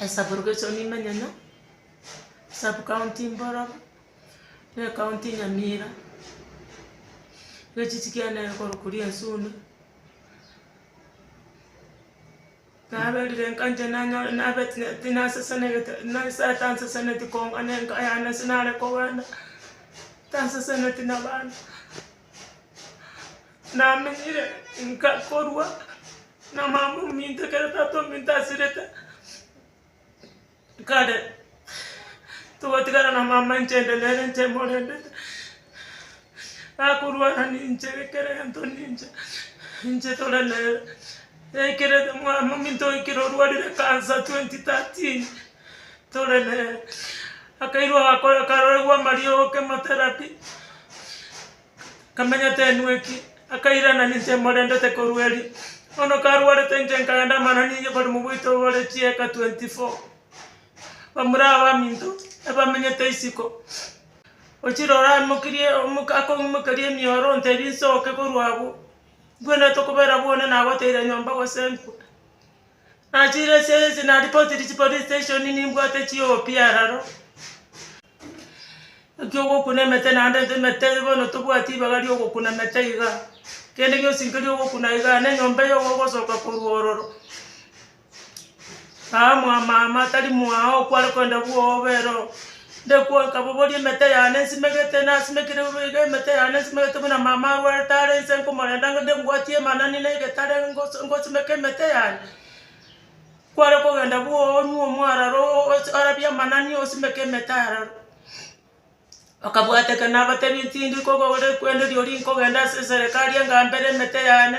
Esabo rogeso nimenyenyo, sub county mbororo, ne county nyamira, gechichi kiane nere korokwa riasuni, naberire nkancha nanyora nabeti neti nasesenegete na inse tanseseneti kong'ana enka yane ase nare kogenda, tanseseneti na abana. Namenyire inka korwa na mama ominto ekero tata ominto asirete kare, togotigara na mama inche inde nere inche morendete, akorwara ninche kera egento ninche, ninche tore nere, yaikire mwa mominto oikire orwarire cancer twenty thirteen. tore nere. Akairwa agakora akaroregwa amariogo chemotherapy, akamenya tenwe ki, akairana ninche morendete korwa erio. Bono karwarete inche nkaenda amanani inye bari mobaito bare chieka twenty four, bamura abaminto ebamenyete isiko, ochire ore amokirie omoka akoimokeria emioro ontebie nsoke korwa abwo, nkwenerete okobera bwone nagoteire nyomba gose nkwe. Nachire ase ense naripotirie chipolice station nimbwate chiopi aroro, ekio ogokuna emete naende nto emete bono tobwati ribaga ria ogokuna emete iga, kende gionsi nkeria ogokuna iga, na enyomba eye iga ogosoka korwa ororo, aa mwamama tari mwao kware kogenda bwobe ero. Ndekwanka boboria emete yane nsimegete, nasimekire bobe iga emete yane nsimegete buna mama arwarete are inse nkomorenda ngende mbwatie emanani na egetare ngoso ngosimeke emete yane. Kware kogenda bwooo onywe omwararo osi orabie amanani osimeke emete aroro. Bakabwateka nabatebi tindi kogo ore kwende riori nkogenda ase eserekari enga mbere emete yane,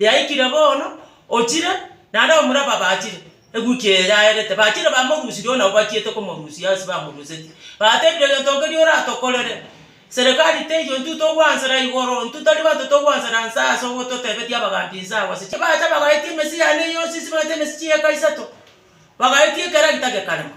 Yaikire bono, ochire, naende abamura aba bachire, eguki eye yaerete, bachire bamorusirie oo nabo bachiete komorusia ase bamoruseti, batebire egento nkeria oratokorere, serikari teiyo intwe togwansera igoro, intwe tari bato togwansera nse ase ogototebetia abagambi nse agwo ase chi. Bacha bagaetia emesii yane yonsi ase bagaeta emesii chieka isato, bagaetia ekero gita gekarema,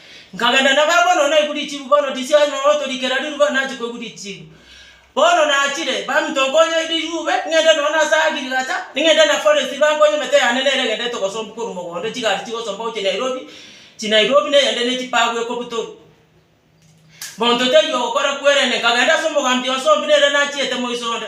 Nkagenda nabo agwo nonya naigwe richibu bono tisi aye nonya otorikera riruba nonya nachi koigwa richibu. Bono nachire, baminto nkonye rirube, ng'ende nonya nase agriculture, ng'ende na forestry bankonye emete yane nere egenderete gosombwa korwa mogondo chigari chigosombwa gochia Nairobi, chinairobi na eyende ne chipagu ekobutorwa. Monto taiyo ogokora kwerende nkagenda ase omogambi onsombia nere nachiete moiso onde.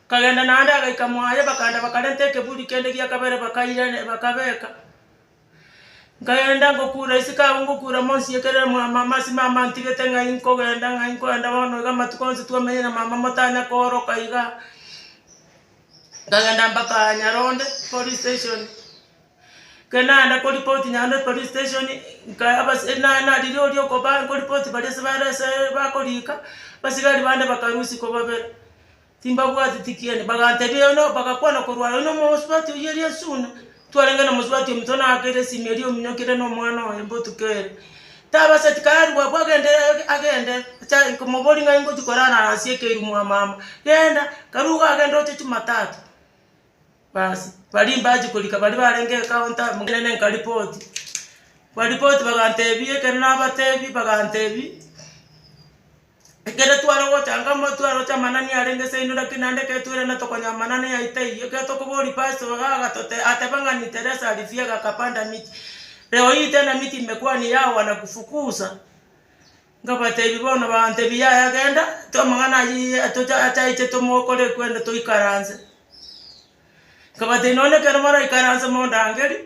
Nkagenda naende agaika mwaye bakaenda bakarenta ekeburi kende gia kabere bakairania bakabeka. Nkagenda ngokura isiko agwo ngokura monsi ekero mama amasime amo antigete ng'ai nkogenda ng'ai nkogenda bono iga amatuko onsi twamenyire na mama motanya kooroka igaa. Nkagenda mpaka nyaronde police station, ekero nagenda koripoti nyaronde police station nka abase na- nariria oria okoba nkoripoti baria ase bare ase bakoriika, abasigari bande bakarusia kobabera. Timbabwati tikieni, bagantebia yono, bagakwana korwa aye, Nomosubati oyio eria esuna, twarenge nomosubati ominto naakere esimi eria ominyoke ere nomwana oye botuko ere. Tabaseti karue abwo agende agende acha komobori ng'ai ngochi korara nase ekeiru mwa mama, genda, karue iga agende oche chumatatu. Baasi baria mbachi korika baria barenge ecounter nene nkaripoti, kwaripoti bagantebia ekero nabatebia bagantebia. Ekero tware gochanga omotwe aroche amanani arenge ase aino, lakini naende ekero twairana tokonyora amanani aye taiyo. Ekero tokoboria Pastor iga agatote ateba ng'a ni Teresa alifiega akapanda miti. Leo hii tena miti imekuwa yao wanakufukuza. Nkabatebi bono bantebi yaya genda to amang'ana ayio atocha ataiche tomokore kwende toikaranse. Nkabatebi nonye ekero maraikaranse mondangerie.